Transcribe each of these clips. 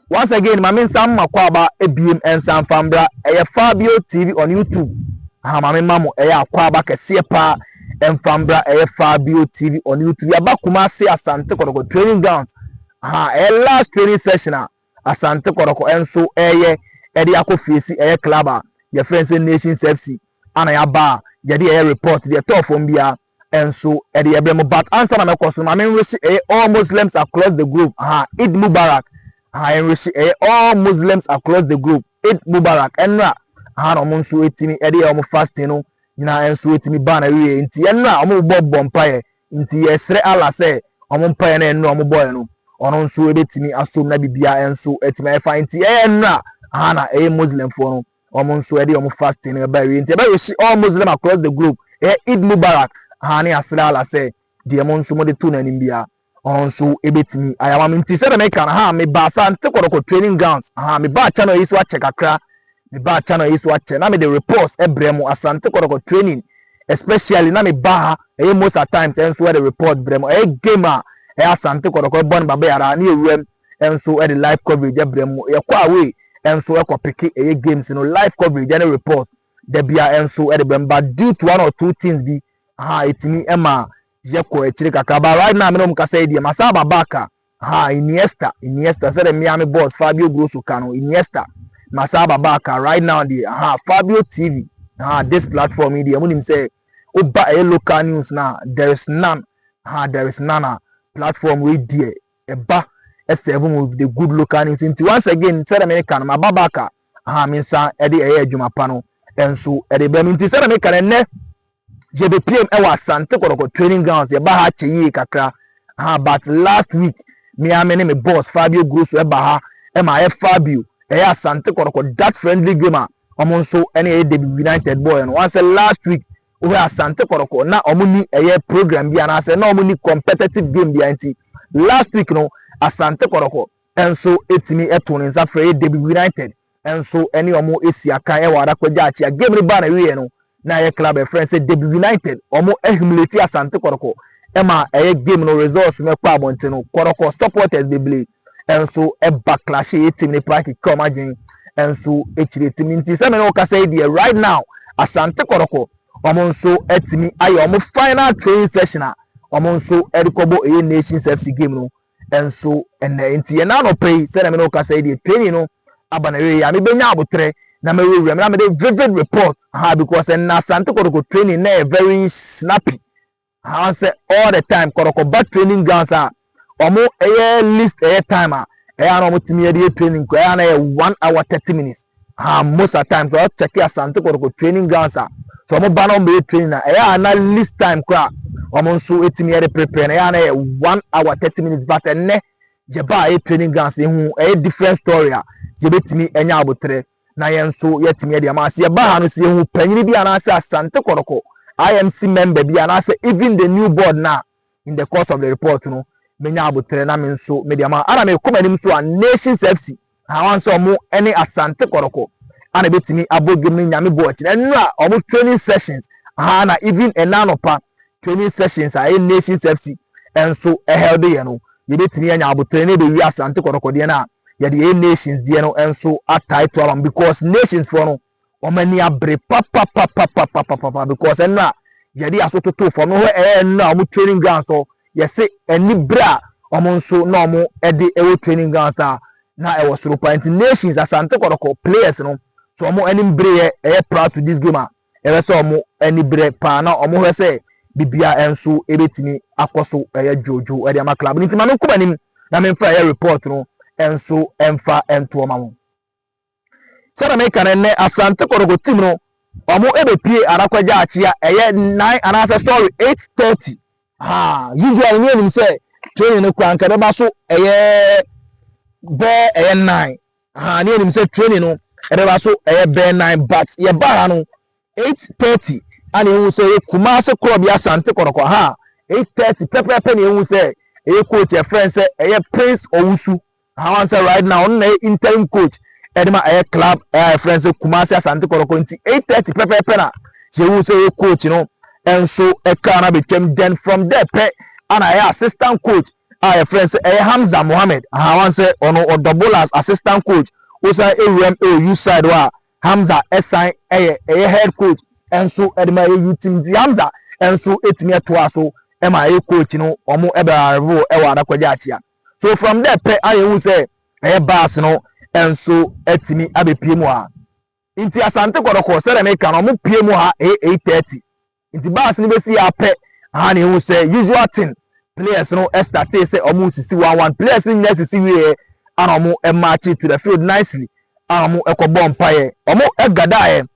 Once again mame nsa mma kwaaba ebiem nsa nfa mbra ɛyɛ fabio tv on youtube aha mame ma mo ɛyɛ akwaaba kɛseɛ paa ɛnfa mbra ɛyɛ fabio tv on youtube yaba kumase asante kɔtɔkɔ training ground aha ɛyɛ last training session a asante kɔtɔkɔ ɛnso ɛyɛ ɛde akɔ fiesi ɛyɛ club a yɛfrɛ nsɛ nations fc ana yaba a yɛde ɛyɛ report deɛ ɛtɔɔ fam biara nso ɛde ɛbrɛ mo but ansa na mɛkɔ so no maame nwehye ɛyɛ all muslims across the globe ha eid mubarak ha nwehye ɛyɛ all muslims across the globe eid mubarak ɛnra ha na wɔn nso etimi ɛde yɛ wɔn fasting no nyinaa nso etimi ban awie nti ɛnra wɔn bɔ bɔ mpaeɛ nti yɛsrɛ allah sɛ wɔn mpaeɛ na ɛnra wɔn bɔɛ no ɔno nso ebetumi asom na bibia nso etimi ayɛ fa nti ɛyɛ ɛnra ha na ɛyɛ muslimfoɔ no wɔn nso ɛde wɔn fasting no ɛba awie nti ɛbɛ wish all muslim across the globe ɛyɛ eid mubarak haa ne asra ala sɛ deɛ mo nso mo de to n'anim bia ɔno nso ɛbɛtumi ayama me nti sɛ dɛm ɛka no ha me ba sa nte kɔdɔkɔ training grounds ha me ba channel yi so akyɛ kakra me ba channel yi so akyɛ na me de reports ɛbrɛ mo asante kɔdɔkɔ training especially na me ba ha ɛyɛ most at times ɛnso ɛde report brɛ mo ɛyɛ game a ɛyɛ asante kɔdɔkɔ ɛbɔ ne baba yara ne ewuram nso de live coverage brɛ mu. Yɛkɔ away nso kɔ peke ɛyɛ games no live coverage ne report da bia nso de brɛ mu but due to one or two things bi ha etimi ma yɛkɔ akyire kakra but right now me na wɔn kasa yi deɛ ma saa aba back a ha Iniesta Iniesta sɛdeɛ mmea me boss Fabio Grosso ka no Iniesta ma saa aba back a right now deɛ ha Fabio TV ha this platform yi deɛ mo nim sɛ oba ɛyɛ local news na there is none ha there is none a platform wey deɛ ɛba ɛsɛɛve mu with the good local names nti once again sɛdeɛ meka no maba back a aha me nsa ɛde ɛyɛ adwuma pa no ɛnso ɛde bɛ no nti sɛdeɛ meka no ɛnɛ yɛbɛpiem ɛwɔ asante kɔdɔkɔ training grounds yɛba ha kyɛ yie kakra aha but last week me a me ne me boss fabio grosso ɛba ha ɛma ayɛ fabio ɛyɛ asante kɔdɔkɔ that friendly game a wɔn nso ɛne ɛyɛ david united boy no wɔn sɛ last week Wɔ Asante Kɔrɔkɔ na wɔn ni ɛyɛ program bi anaasɛ na wɔn ni competitive game bia nti last week no Asante Kɔrɔkɔ nso etumi ɛto ne nsa frɛ yɛ Debi United nso ɛne wɔn esi akan ɛwɔ Adakwa Gyakyia game no baa na wieɛ no na ɛyɛ club ɛfrɛ sɛ Debi United wɔn ahumileti Asante Kɔrɔkɔ ɛma ɛyɛ game no results no ɛkɔ abɔnten no Kɔrɔkɔ supporters bebree nso backlash a ɛtim ne pride keka wɔn adwene nso akyire tim nti sɛ me ne wo kasa yi deɛ right now asante kɔrɔkɔ wɔn nso atumi ayɛ wɔn final training session a wɔn nso de kɔbɔ ɛyɛ nations fc game no nso ɛnɛ nti yɛn anɔpɛ yi sɛ na me ne wo kasa yi deɛ training no aba na ɛyɛ yɛ a mebɛnya abotrɛ na mewurawura mu na mede vivid report ha because ɛnna asante kɔrɔkɔ training na ɛyɛ very snappy Haa sɛ all the time kɔrɔkɔ ba training grounds a ɔmo ɛyɛ list ɛyɛ time a ɛyɛ a na ɔmo tumi ɛde yɛ training kura ɛyɛ a na ɛyɛ one hour thirty minutes haa most at times ɔyɛ check asante kɔrɔkɔ training grounds a sɛ ɔmo ba na ɔmo bɛyɛ training a ɛyɛ a na list time kura ɔmo nso etumi ɛde prepare na ɛyɛ a na ɛyɛ one hour thirty minutes but ɛnɛ yɛba a ɛyɛ training grounds ehu ɛyɛ different story a yɛbɛtumi ɛnya abotire na yɛn nso yɛatumi adi ama sɛ yɛba ha no sɛ yɛhu panyini bi anaasɛ asante kɔrɔkɔ imc member bi anaasɛ even the new board na in the course of the report no menya aboterɛ na me nso mede ama ana mekɔ m'anim so a nations fc ahawan sɛ ɔmo ne asante kɔrɔkɔ ana ɛbɛtumi abɔ dwom no nyame bɔ akyi na nnura ɔmo training sessions aha na even ɛna anɔpa training sessions a ɛyɛ Nations FC nso held yɛ no, yɛbɛtumi anya aboterɛ na ɛbɛwie Asante Kɔtɔkɔ deɛ no a, yɛde ɛyɛ Nations deɛ no nso atae to abam because Nations foɔ no, wɔn ani abere papapapapapapapa because ɛno a yɛde aso toto fam no hɔ ɛyɛ ɛno a wɔn training grounds hɔ yɛse ani bere a wɔn nso na wɔn ɛde ɛwɔ training grounds a na ɛwɔ soro paa nti Nations Asante Kɔtɔkɔ players no so wɔn anim bereɛ ɛyɛ proud to this game a Ɛbɛyɛ sɛ wɔn ani berɛ paa na wɔhwɛ sɛ biribiara nso bɛtumi akɔ so yɛ dwoodwoo de ama club no nti ma menkɔ m'anim na memfa ɛyɛ report no nso mfa ntoɔ ma wɔn. Sɛdeɛ meka no nnɛ Asante Kɔtɔkɔ team no wɔbɛpie Arako Gyaakye a ɛyɛ nine anaasɛ sorry eight thirty. Haa usually ne yɛnim sɛ training no koraa anka ɛbɛba so ɛyɛ bɛɛ ɛyɛ nine Aha ne yɛnim sɛ training no ɛbɛba so ɛyɛ bɛn nan but yɛba ha no 8:30 ana ehu sɛ ɛyɛ Kumase korɔbea Asante Kɔtɔkɔ aha 8:30 pɛpɛɛpɛ na ehu sɛ ɛyɛ coach ɛfrɛ sɛ ɛyɛ Prince Owusu aha wɔn sɛ right now ɔno na ɛyɛ interim coach ɛde ma ɛyɛ club ɛyɛ ɛfrɛ sɛ Kumase Asante Kɔtɔkɔ nti 8:30 pɛpɛɛpɛ na yɛhu sɛ ɛyɛ coach no ɛnso ɛka na betwam then from there pɛ ana ɛyɛ assistant coach a yɛfrɛ no sɛ ɛyɛ Hamza Mohammed ahaa wan sɛ ɔno ɔdɔ bowler as assistant coach osan ewura mu ɛwɔ youth side hɔ a Hamza ɛsan ɛyɛ ɛyɛ head coach ɛnso ɛde ma ɛyɛ youth team nti Hamza ɛnso ɛtumi ɛtoa so ɛma ɛyɛ coach no ɔmo ɛbɛ arrive ɛwɔ Adakwagya Akyea so from there pɛ a yɛhu sɛ ɛyɛ bus no ɛnso ɛtumi abɛpie mu ha nti Asante Kɔdɔkɔ sɛdeɛ meka no ɔmo pie mu ha ɛyɛ eight thirty Nti bus no bɛsii a pɛ haa ne hu sɛ usual thing players no startee sɛ ɔmo resisi one one players no nyinaa sisi wieɛ ana ɔmo marchee to the field nicely ana ɔmo kɔ bɔɔ mpaeɛ ɔmo gadaeɛ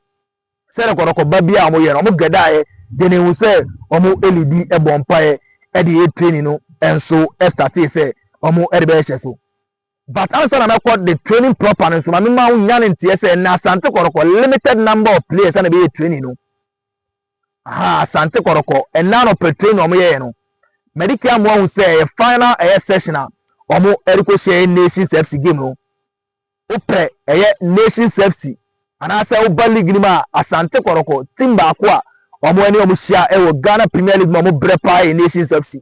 sɛ rɛkɔrɔkɔ ba bi a ɔmo yɛ no ɔmo gadaeɛ deɛ ne hu sɛ ɔmo lidi bɔ mpaeɛ ɛde yɛ training no nso startee sɛ ɔmo ɛde bɛyɛ hyɛ so but ansa na mɛkɔ the training proper no nso ma mema wo nya ne nteɛ sɛ na asante kɔrɔkɔ limited number of players ana bɛyɛ training no ha asante kɔrɔkɔ ɛnna anɔpɛ train na wɔyɛɛ no mɛde kɛ amoa hu sɛ ɛyɛ final ɛyɛ session a wɔn ɛrekɔ hyɛ ɛyɛ nations fc game no wopɛ ɛyɛ nations fc anaasɛ woba league no mu a asante kɔrɔkɔ team baako a wɔn ɛne wɔn hyia ɛwɔ ghana premier league mu a wɔn brɛ paa yɛ nations fc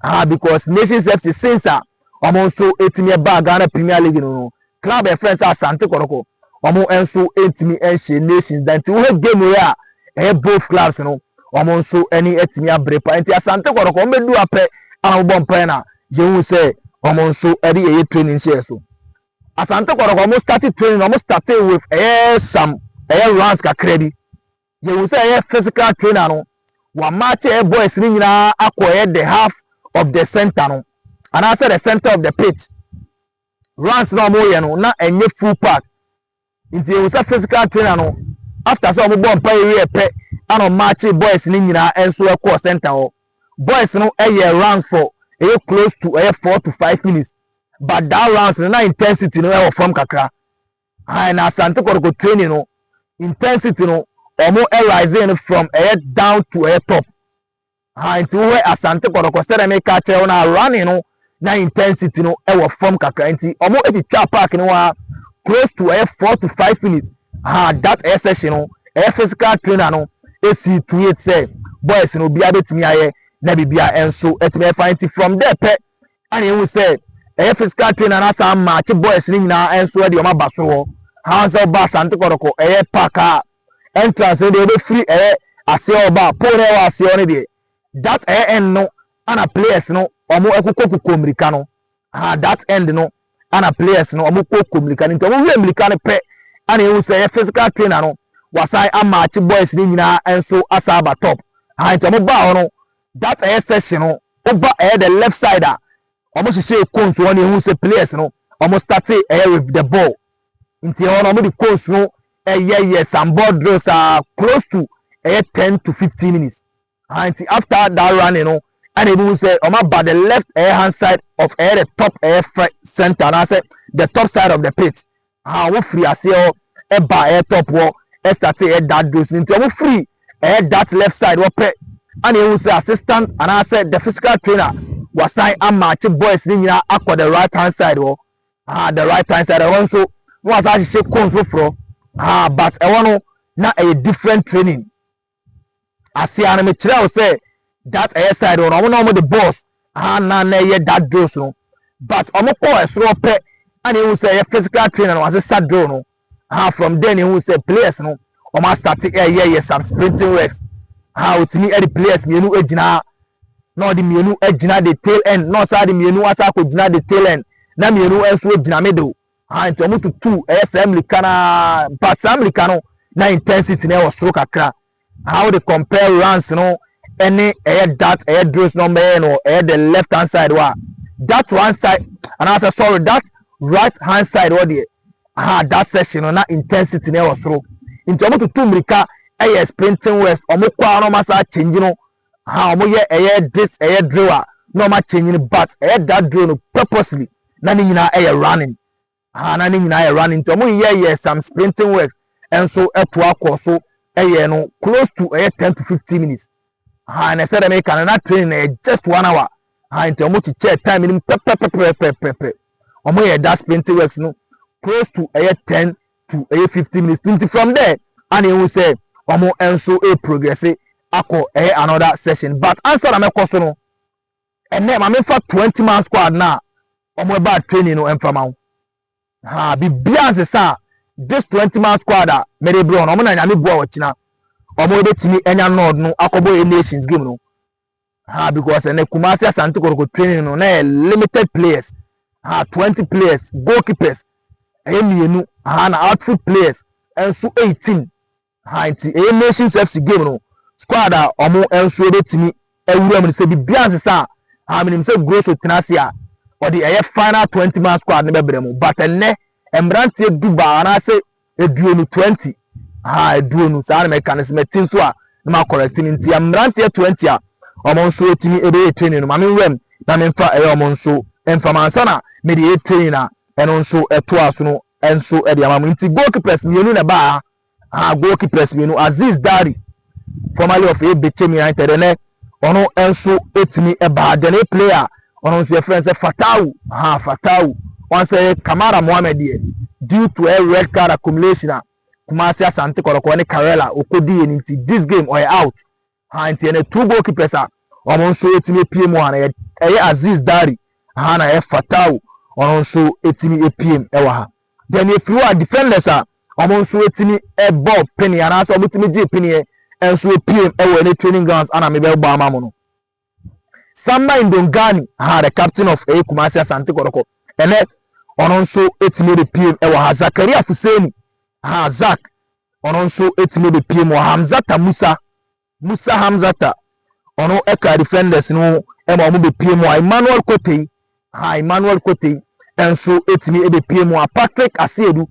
Ah because Nations FC since a wɔn nso etumi ɛbaa Ghana Premier League no no club a yɛfrɛ no sɛ Asante Kɔtɔkɔ wɔn nso ntumi nhyɛ Nations da nti wohɛ game wei a ɛyɛ both clubs no wɔn nso ani atumi abere pa nti Asante Kɔtɔkɔ wɔn bɛdu apɛ a wɔbɔ mpae na yɛhu sɛ wɔn nso ɛde ɛyɛ training hyɛ so Asante Kɔtɔkɔ wɔn start training wɔn start with ɛyɛ some ɛyɛ runs kakra bi Yɛhu sɛ ɛyɛ physical trainer no wɔamaakye yɛ boys no nyinaa akɔ yɛ the half of the center no anaasɛ the center of the pitch runs na wɔyɛ no na ɛnyɛ full pack nti yɛhu sɛ physical trainer no after sɛ wɔbɔ mpa yɛwie pɛ ana ɔmaakye boys no nyinaa nso ɛkɔɔ center hɔ boys no ɛyɛ runs for ɛyɛ close to ɛyɛ four to five minutes but that runs no na intensity no ɛwɔ fam kakra Ae na Asante Kɔtɔkɔ training no intensity no ɔmo rising no from ɛyɛ down to ɛyɛ top. Ae nti wohwɛ Asante Kɔtɔkɔ sɛdeɛ meka akyerɛ wo no a running no na intensity no ɛwɔ fam kakra nti ɔmo etwitwa park no a close to ɛyɛ four to five minutes. Ae that ɛyɛ session no ɛyɛ physical trainer no esi to it sɛ boys no obiara betumi ayɛ na biribiara ɛnso ɛtumi ɛfa nti from there pɛ Ana ehu sɛ ɛyɛ physical trainer na saa match boys no nyinaa nso de wɔn aba soro hɔ han sɛ ɔba asante kɔdɔkɔ ɛyɛ park a entrance no deɛ ɔbɛfiri ɛyɛ aseɛ ɔba pole na ɛwɔ aseɛ no deɛ that ɛyɛ end no ana players no wɔn ɛkokɔ kokɔ mmirika no ha that end no ana players no wɔn kokɔ mmirika no nti wɔn wie mmirika no pɛ ana ehu sɛ ɛyɛ physical trainer no wasan amatch boys no nyinaa nso asa aba top ha nti wɔn baa hɔ no That ɛyɛ session no woba ɛyɛ the left side a wɔn hyehyɛ cones wɔn ehu sɛ players no wɔn start ɛyɛ with the ball nti ɛhɔ no wɔn de cones no ɛyɛ yɛ some ball drills a close to ɛyɛ ten to fifteen minutes ahan nti after that running no ɛna ebi hu sɛ wɔn aba the left ɛyɛ hand side of ɛyɛ the top ɛyɛ center anaasɛ the top side of the pitch a wɔn firi aseɛ hɔ ɛba ɛyɛ top hɔ ɛstate ɛyɛ dark dose no nti wɔn firi ɛyɛ that left side hɔ pɛ ana ehu sɛ assistant anaasɛ the physical trainer wasan amaakye boys ne nyinaa akɔ the right hand side hɔ ah the right hand side ɛhɔ nso na wasan ahyehyɛ cones foforɔ ah but ɛhɔ no na ɛyɛ different training Asia no me kyerɛ wo sɛ that ɛyɛ side hɔ no ɔmo na ɔmo de boss aha na na ɛyɛ that drills no but ɔmo kɔɔ ɛsoro pɛ ɛna ehu sɛ ɛyɛ physical trainer no wasesa drill no aha from there na ehu sɛ players no ɔmo asate ɛyɛ yɛ some sprinting works aha otumi ɛde players mmienu egyina na ɔde mmienu egyina the tail end na ɔsan de mmienu asa akɔ gyina the tail end na mmienu nso egyina middle Aane, nti wɔn tutuu ɛyɛ saa mirika no ara, but saa mirika no na intensity no ɛwɔ soro kakra, aha wode compare runs no ɛne ɛyɛ that ɛyɛ drills no wɔbɛyɛ no ɛyɛ the left hand side hɔ a, that one side, anaasɛ sorry that right hand side hɔ deɛ, aha that section no na intensity no ɛwɔ soro, nti wɔn tutu mirika ɛyɛ sprinting west, wɔn kɔ ara na wɔn asa change no Aha ɔmo yɛ ɛyɛ this ɛyɛ drill a na ɔmo akyɛnyi no but ɛyɛ that drill no purposely na ne nyinaa ɛyɛ running aha na ne nyinaa yɛ running nti ɔmo yeyɛ yɛ some sprinting work ɛnso ɛtoa kɔɔ so ɛyɛ no close to ɛyɛ ten to fifteen minutes aha na ɛsɛ dɛ meka no na training na yɛ just one hour aha nti ɔmo kyekyɛ time no mu pɛpɛpɛpɛpɛpɛ ɔmo yɛ that sprinting works no close to ɛyɛ ten to ɛyɛ fifty minutes to nti from there ana ehu sɛ wɔn nso e progress akɔ ɛyɛ another session but ansa na mɛkɔ so no ɛnɛ maame nfa twenty man squad na wɔn ɛba training no ɛnfa ma ho ha bibia nsesa this twenty man squad a mɛde brɛ wɔn wɔn na nyame bua wɔkyina wɔn ebetumi ɛnya nɔɔd no akɔbɔ yɛ nations game no. Aha because ɛnɛ Kumasi Asante Kotoko training no na yɛ limited players. Aha 20 players, goalkeepers ɛyɛ mmienu. Aha na outfield players nso 18. Aha nti ɛyɛ Nations FC game no squad a wɔn nso ɛbɛtumi awura mu no sɛ biribiara nsesa a aha menim sɛ Grosso tena ase a ɔde ɛyɛ final 20 man squad no bɛbrɛ mu. But ɛnɛ mmeranteɛ du baa anaasɛ aduonu, twenty, ahaa, aduonu, saa na mɛka no sɛ mɛte nso a na ma correct no nti mmeranteɛ twenty a wɔn nso atumi ɛbɛyɛ training no ma me nwuram na memfa ɛyɛ wɔn nso mfa ma ansa na mede ɛyɛ training a ɛno nso ɛtoa so no nso ɛde ama mu nti goalkeepers mmienu na ɛbaa ha goalkeepers mmienu Aziz Dari formerly of Ebetsim United ɛnɛ ɔno nso ɛtumi ɛbaa then a player a ɔno nso yɛfrɛ no sɛ Fatawu ha Fatawu wɔn sɛ Kamara Mohammed deɛ due to a red card accumulation a Kumasi Asante Kɔrɔkɔrɔ ne Karela ɔkɔdi yɛ no nti this game ɔyɛ out ha nti ɛnɛ two goalkeepers a wɔn nso ɛtumi apue mu ha na ɛyɛ Aziz Dari ha na ɛyɛ Fatawu ɔno nso ɛtumi apue mu ɛwɔ ha. Deɛ na ɛfiri hɔ a defenders a wɔn nso tumi bɔ pene anaasɛ wɔn tumi gye peneɛ nso piem wɔ ɛne training grounds ana mebɛbɔ ama mo no. Samba Ndongani ha the captain of ɛyɛ Kumasi Asante Kɔtɔkɔ ɛnɛ ɔno nso tumi de piem wɔ ha Zakaria Fuseni ha Zak ɔno nso tumi de piem wɔ Hamzata Musa Musa Hamzata, ɔno ɛkaa defenders no ma wɔn bɛpie mu a Emmanuel Kotei, ha Emmanuel Kotei nso ɛtumi ɛbɛpie mu a Patrick Asiedu,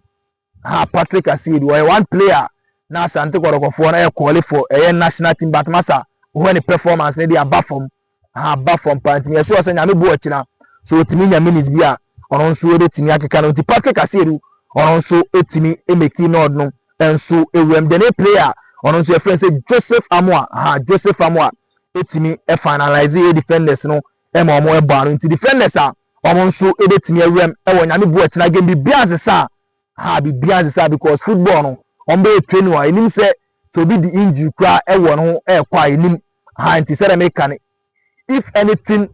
ha Patrick Asiedu, ɔyɛ one player na Asante Kɔdɔkɔfoɔ no ɛkɔɔle for ɛyɛ national team but masa wohwɛ ne performance no de aba fam aba fam paa nti meyɛ sure sɛ nyame boɔ ɔkyena sɛ ɔtumi nya minutes bi a ɔno nso ɛbɛtumi akeka no nti Patrick Asiedu ɔno nso ɛtumi ɛmɛki nɔɔd no nso ɛwuram de ne player ɔno nso yɛfrɛ sɛ Joseph Amoa ha Joseph Amoa ɛtumi finalize yɛ defenders no ɛma ɔmo ɛbɔ ano nti defenders a ɔmo nso ɛbɛtumi awuram ɛwɔ nyame boɔ ɔkyena game bi bia nsesa a ha biribiara nnsesa ha because football no wɔn bɛyɛ training wɔ ha yɛnim sɛ sɛ obi di injury koraa ɛwɔ ne ho ɛrekɔ a yɛnim ha nti sɛdeɛ meka no if anything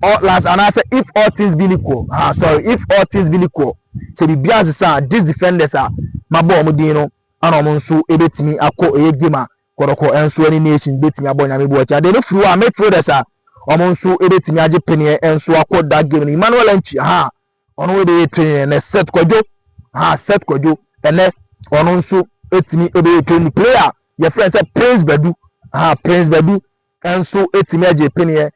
all last anaasɛ if all things being equal ha sorry if all things being equal sɛ biribiara nsesa a these defenders a mabɔ wɔn din no ana wɔn nso ɛbɛtumi akɔ ɛyɛ game a kɔdɔkɔ nso ɛne nation bɛtumi abɔ nyame bu akyi adeɛ no firi hɔ a midfielders a wɔn nso ɛbɛtumi agye peneɛ nso akɔ that game no emmanuel antwi ha Ɔno wei bɛyɛ twɛn yɛn nɛ Seth Kwadwo ha Seth Kwadwo ɛnɛ ɔno nso ɛtumi ɛbɛyɛ twɛn ni player a yɛfrɛ no sɛ Prince Badu ha Prince Badu nso ɛtumi agye peneɛ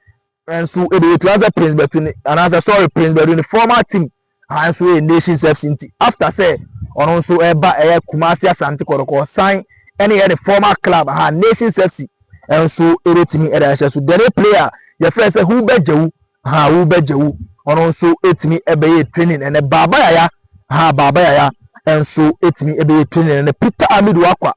nso ɛbɛyɛ twɛn sɛ Prince Badu ne anaasɛ sorry Prince Badu ne former team ha nso ɛyɛ Nations FC nti after sɛ ɔno nso ɛba ɛyɛ Kumasi Asante Kɔtɔkɔ san ɛne yɛ ne former club ha Nations FC nso ɛbɛtumi ɛde ahyɛ so dɛne player yɛfrɛ sɛ Hubert Gyewu ha wo bɛ gya wo ɔno nso etimi ɛbɛ yɛ training ɛnɛ baaba yaya ha baaba yaya ɛnso etimi ɛbɛ yɛ training ɛnɛ peter amid wakwa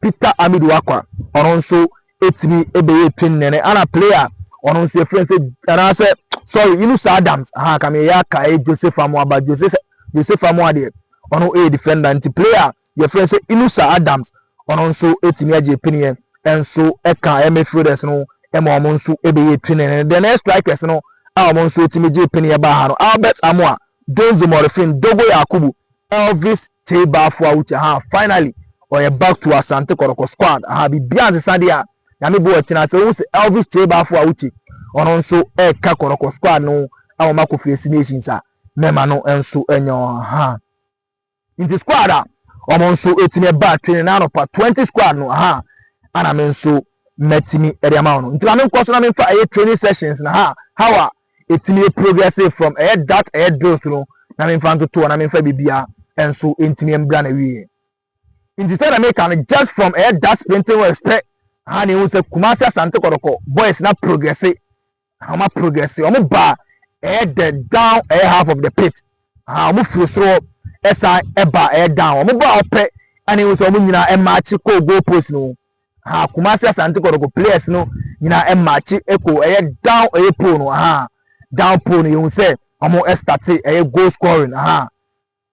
peter amid wakwa ɔno nso etimi ɛbɛ yɛ training ɛnɛ ana player ɔno nso efirɛ nso ɛna sɛ sorry yunus adams ha kame yɛ aka ɛ joseph amoaba joseph joseph amoadeɛ ɔno ɛyɛ defender nti player yɛfrɛ no sɛ Inusa Adams, ɔno nso tumi agye piniɛ nso ka ɛyɛ midfielders no ma wɔn nso bɛyɛ twinini. Then ɛyɛ strikers no a wɔn nso tumi gye piniɛ baa ha no, Albert Amoah, Donzo Morifin, Dogo Yakubu, Elvis Tseibah Fuawuchi, aha finally ɔyɛ back to Asante Kɔtɔkɔ squad, aha biribiara nsesa deɛ a nyame bo ɔkyena sɛ wohu sɛ Elvis Tseibah Fuawuchi ɔno nso ɛreka Kɔtɔkɔ squad no a wɔn akɔ fie si nations a mɛma no nso nyɛ wɔn ha. Nti squad a wɔn nso ɛtumi ɛba training na anɔpa 20 squad no aha ana me nso mɛtumi ɛde ama wɔn nti ma me nkɔ so na me nfa ɛyɛ training sessions na ha how a ɛtumi ɛ progress from ɛyɛ that ɛyɛ drills no na me nfa ntotoɔ na me nfa bibia ɛnso ɛntumi ɛmbra na wieɛ nti sɛ na me ka no just from ɛyɛ that sprinting works pɛ aha na ehu sɛ Kumasi Asante Kɔdɔkɔ boys na progress Wɔn a progress, wɔn ba ɛyɛ dɛ down ɛyɛ half of the pit. Ah, wɔn firi soro hɔ ɛsan ɛba ɛyɛ down. Wɔn ba ɔpɛ ɛna ehu sɛ wɔn nyinaa ɛmaakye kɔ goal post no ho. Ah, Kumasi Asante Kɔtɔkɔ players no nyinaa ɛmaakye ɛkɔ ɛyɛ down ɛyɛ pole no. Ah, down pole no yɛhu sɛ wɔn ɛstate ɛyɛ goal scoring. Ah,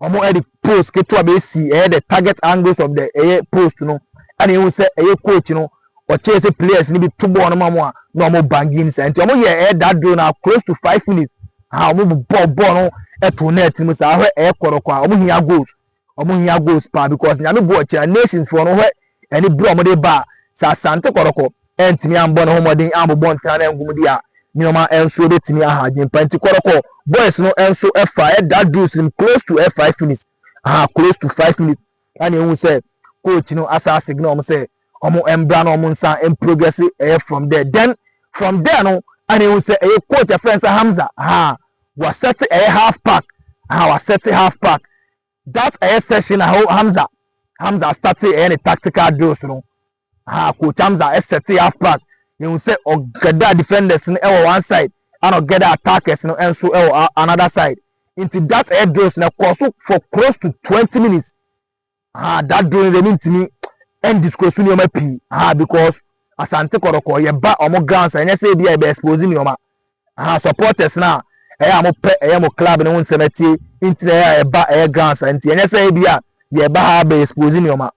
Wɔn ɛde post ketewa bɛ si ɛyɛ the target angles of the ɛyɛ post no ɛna ehu sɛ ɛyɛ coach no ɔkyerɛ sɛ players no bi to bɔɔl no ma wɔn a na wɔn banging saa nti wɔn yɛ ɛyɛ that drill na close to five minutes aha wɔn bu bɔɔl bɔɔl no ɛto net no mu saa hwɛ ɛyɛ kɔrɔkɔ a wɔn hia goals wɔn hia goals paa because nyame bu ɔkyerɛ nations foɔ no hwɛ ne bere a wɔde reba a, sɛ Asante Kɔrɔkɔ antumi ammɔ ne ho mmɔden ammobɔ ntena no angu mu de a, nneɛma nso betumi aha adwempa. Enti Kɔrɔkɔ boys no nso faa ɛda dues no mu close to ɛ five minutes, aha close to five minutes, ɛna ehu sɛ coach no asa asignal wɔn sɛ wɔn mbra na wɔn nsa mprogress ɛyɛ from there. Then from there no ɛna ehu sɛ ɛyɛ coach ɛfrɛ nsa Hamza, aha wasɛte ɛyɛ half pack, aha wasɛte half pack, That ɛyɛ session a ho Hamza Hamza startee ɛyɛ ne tactical drills no ha coach Hamza ɛsɛtee half back yɛhu sɛ ɔgɛda defenders no ɛwɔ one side ɛna ɔgɛda attackers no ɛnso ɛwɔ another side nti that ɛyɛ drills no ɛkɔɔ so for close to twenty minutes ha that drill no deɛ mentumi ɛndisco so nneɛma pii ha because asante kɔdɔkɔ yɛba ɔmo grounds ɛnyɛ sɛ ebi a yɛbɛ expose nneɛma Aha supporters no a ɛyɛ a mopɛ ɛyɛ mo club no ho nsɛm atie nti na ɛyɛ a yɛba ɛyɛ ground saa nti ɛnyɛ sɛ ebi a yɛba ha abɛ expose nneɛma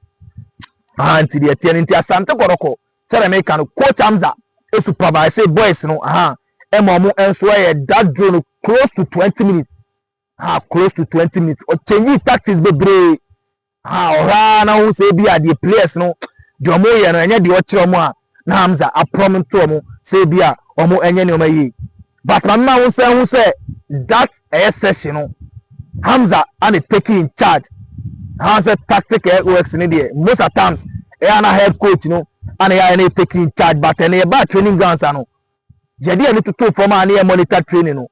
aha nti deɛ ɛteɛ no nti Asante Kɔtɔkɔ sɛdeɛ meka no coach Hamza supervise boys no aha ɛma ɔmo nso ɛyɛ that drill no close to twenty minutes ah close to twenty minutes ɔkyɛnyi tactics bebree ah ɔhwɛ ara na ɔhu sɛ ebi a deɛ players no deɛ wɔn yɛ no ɛnyɛ deɛ ɔkyerɛ wɔn a na hamza aprɔm nto wɔn sɛ ebi a wɔn ɛnyɛ nneɛma yie but maame ma wɔn sɛ ɛho sɛ that ɛyɛ session no hamza ana taking in charge ha sɛ tactic ɛyɛ works ne deɛ most at times ɛyɛ ana head coach no ana yɛ ayɛ na taking in charge but ɛna yɛ ba training grounds ano Yɛde yɛn ani totoo fam a na yɛ monitor training no.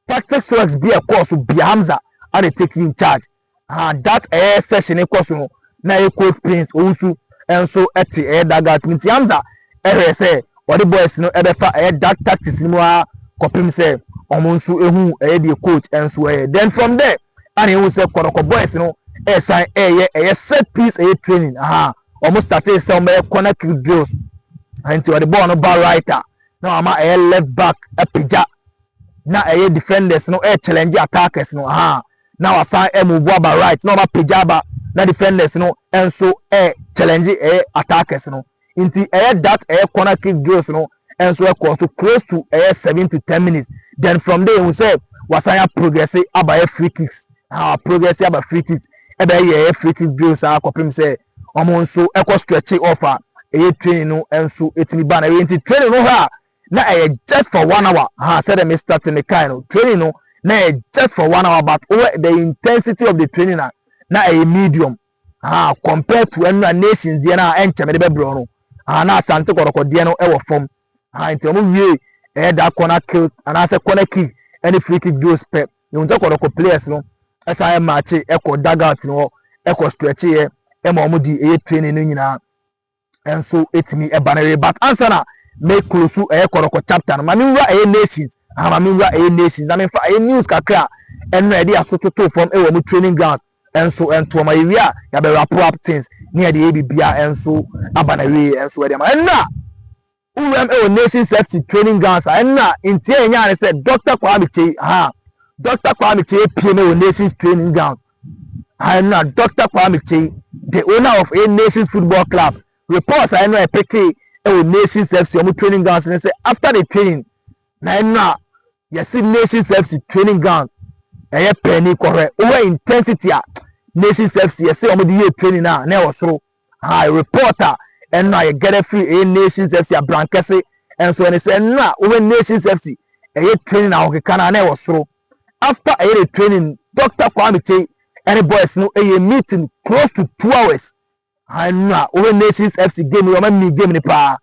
Tactics works bi a ɛkɔɔ so bia Hamza a na take in charge. Aha that ɛyɛ session kɔ so no na ɛyɛ coach Prince Owusu nso te ɛyɛ dugout mu nti Hamza ɛhwɛ sɛ ɔde boys no ɛbɛfa ɛyɛ that tactics no mu ara kɔpem sɛ wɔn nso ehu ɛyɛ deɛ coach nso ɛyɛ. Then from there a na ehu sɛ Kɔdɔkɔ boys no ɛsan ɛyɛ ɛyɛ set piece ɛyɛ training. Aha wɔn startee sɛ wɔn bɛyɛ corner kick drills nti wɔde bɔɔl no ba right a na wɔn ama ɛyɛ left back apagya na ɛyɛ defenders no ɛyɛ challenge attackers no ha na wasan ɛmuvu aba right na wɔn apagya aba na defenders no nso ɛyɛ challenge ɛyɛ attackers no nti ɛyɛ that ɛyɛ corner kick drills no nso ɛkɔɔ so close to ɛyɛ seven to ten minutes then from there ehu sɛ wasan ya progress aba yɛ free kicks ha progress aba free kicks ɛbɛyɛ yɛ ɛyɛ free kick drills a kɔpem sɛ wɔn nso ɛkɔ stretch off a ɛyɛ training no nso etumi ba na ɛyɛ nti training no ha na ɛyɛ just for one hour ha sɛdeɛ me start me kae no training no na ɛyɛ just for one hour but wɔ the intensity of the training na na ɛyɛ medium Ah compare to ɛno a nations deɛ no a ɛnkyɛ mede bɛbrɛ no ah na asante kɔrɔkɔ deɛ no ɛwɔ fam ah nti ɔmo wie ɛyɛ da corner kick anaasɛ corner kick ɛne free kick goals pɛ yɛn sɛ kɔrɔkɔ players no ɛsan yɛ match ɛkɔ dugout no hɔ ɛkɔ stretch yɛ ɛma ɔmo di ɛyɛ training no nyinaa nso ɛtumi ɛba no ɛyɛ but ansa na me close ɛyɛ kɔrɔkɔ chapter no ma me nwura ɛyɛ nations aha ma me nwura ɛyɛ nations na me nfa ɛyɛ news kakra a ɛno na yɛde aso toto fam ɛwɔ mo training ground ɛnso ɛntoɔ ma yɛwie a yɛabɛ wrap up things ne yɛde ɛyɛ biribiara ɛnso aba na wie ɛnso ɛde ama ɛnna Wuram ɛwɔ Nation Safety Training Grounds a ɛno na nteɛ a ɛnyaa ne sɛ Dɔkta Kwame Kyei ha a Dɔkta Kwame Kyei apue no wɔ Nations Training Grounds ha ɛno na Dɔkta Kwame Kyei the owner of a Nations Football Club reports a ɛno a ɛpekee ɛwɔ Nations FC wɔn training grounds ne sɛ after the training na ɛno a yɛsi Nations FC training ground ɛyɛ pɛɛni kɔhwɛ wohwɛ intensity a Nations FC yɛsi wɔn de yɛ training a na ɛwɔ soro. Aye report a ɛno a yɛ gather firi ɛyɛ Nations FC abrankɛse nso ɛne sɛ ɛno a wɔhwɛ Nations FC ɛyɛ training ahokeka no a na ɛwɔ soro. After ɛyɛ ne training Doctor Kwame Kyei ɛne boys no ɛyɛ meeting close to two hours. Aye ɛno a wɔhwɛ Nations FC game yɛ wɔn amii game no paa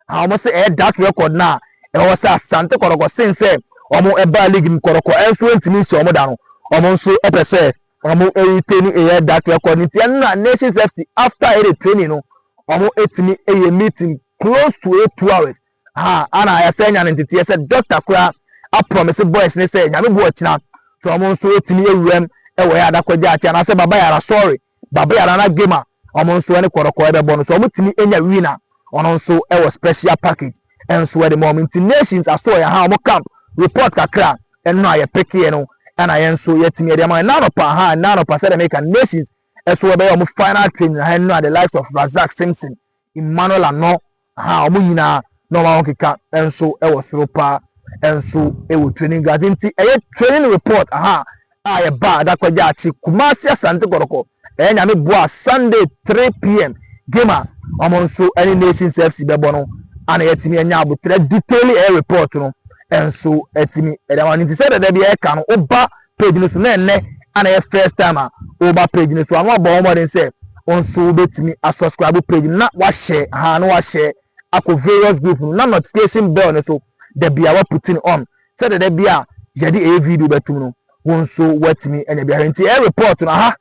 a wɔn se ɛyɛ that record no a ɛwɔ sɛ Asante Kɔtɔkɔ sen sɛ wɔn baa league mu Kɔtɔkɔ ɛnso ɛntumi nhyɛ wɔn da no wɔn nso ɛpɛ sɛ wɔn retain ɛyɛ that record no nti ɛno na Nations FC after ɛyɛ the training no wɔn ɛtumi ɛyɛ meeting close to ɛyɛ two hours ha ana yɛsɛ anya no nteteɛ sɛ doctor koraa aprɔmise boys ne sɛ nyame bu ɔkyena sɛ wɔn nso ɛtumi ɛwuram ɛwɔ yɛ adakɔgya akyi anaasɛ baba yara sorry Babea Nana Gemah wɔn nso ne Kɔrɔkɔ ɛbɛbɔ no so wɔn tumi nya win a ɔno nso wɔ special package nso ɛde ma wɔn nti nations aso ɔyɛ ha wɔn camp report kakra ɛno a yɛ pekee no ɛna yɛn nso yɛtumi ɛde ama ɛna anɔpa ha ɛna anɔpa sɛdeɛ meka nations ɛso ɛbɛyɛ wɔn final training ha ɛno a the likes of Razak Simpson Emmanuel Ano a wɔn nyinaa na wɔn ahokeka nso wɔ soro paa nso wɔ training ground nti ɛyɛ training report aha a yɛba Adakwaja akyi Kumasi Asante Kɔtɔkɔ ɛyɛ nyame boa Sunday 3pm game a wɔn nso ne Nations FC bɛbɔ no ana yɛatumi anya abotrɛ detail ɛyɛ report no nso atumi ɛde ama no nti sɛ dada bi ɛka no woba page no so na ɛnɛ ana ɛyɛ first time a wɔba page no so ano abɔ wɔn mmɔden sɛ wɔn nso wobɛtumi asubscribe page no na wahyɛ ha na wahyɛ akɔ various group no na notification bell no so da bia waputin on sɛdeɛ da bi a yɛde ɛyɛ video bɛtum no wɔn nso wɔatumi anya biara nti ɛyɛ report no aha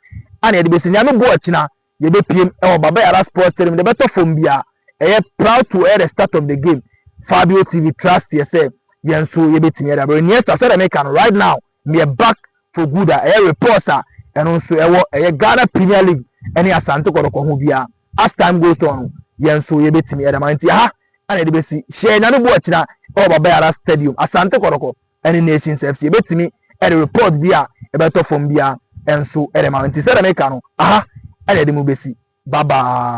ana yɛde bɛsi nyame boɔ akyina Yɛbɛpiem wɔ Baba Yara Sports Stadium de bɛtɔ fam biara. Ɛyɛ proud to air the start of the game. Fabio TV trust yɛ sɛ yɛn nso yɛbɛtumi de abrɛ. Iniesta sɛdeɛ meka no right now meɛ back for good a ɛyɛ reports a ɛno nso ɛwɔ ɛyɛ Ghana Premier League ɛne Asante Kɔtɔkɔ ho biara. As time goes on no yɛn nso yɛbɛtumi de ama nti aha ɛna yɛde bɛsi hyɛ nyame bu ɔkyena ɛwɔ Baba Yara Stadium Asante Kɔtɔkɔ. ɛne Nations FC. Ebetumi ɛde report bi a ɛbɛtɔ fam biara nso ɛde ma wo. Nti sɛdeɛ meka no, aha ɛna ɛde mo besi. Bye bye.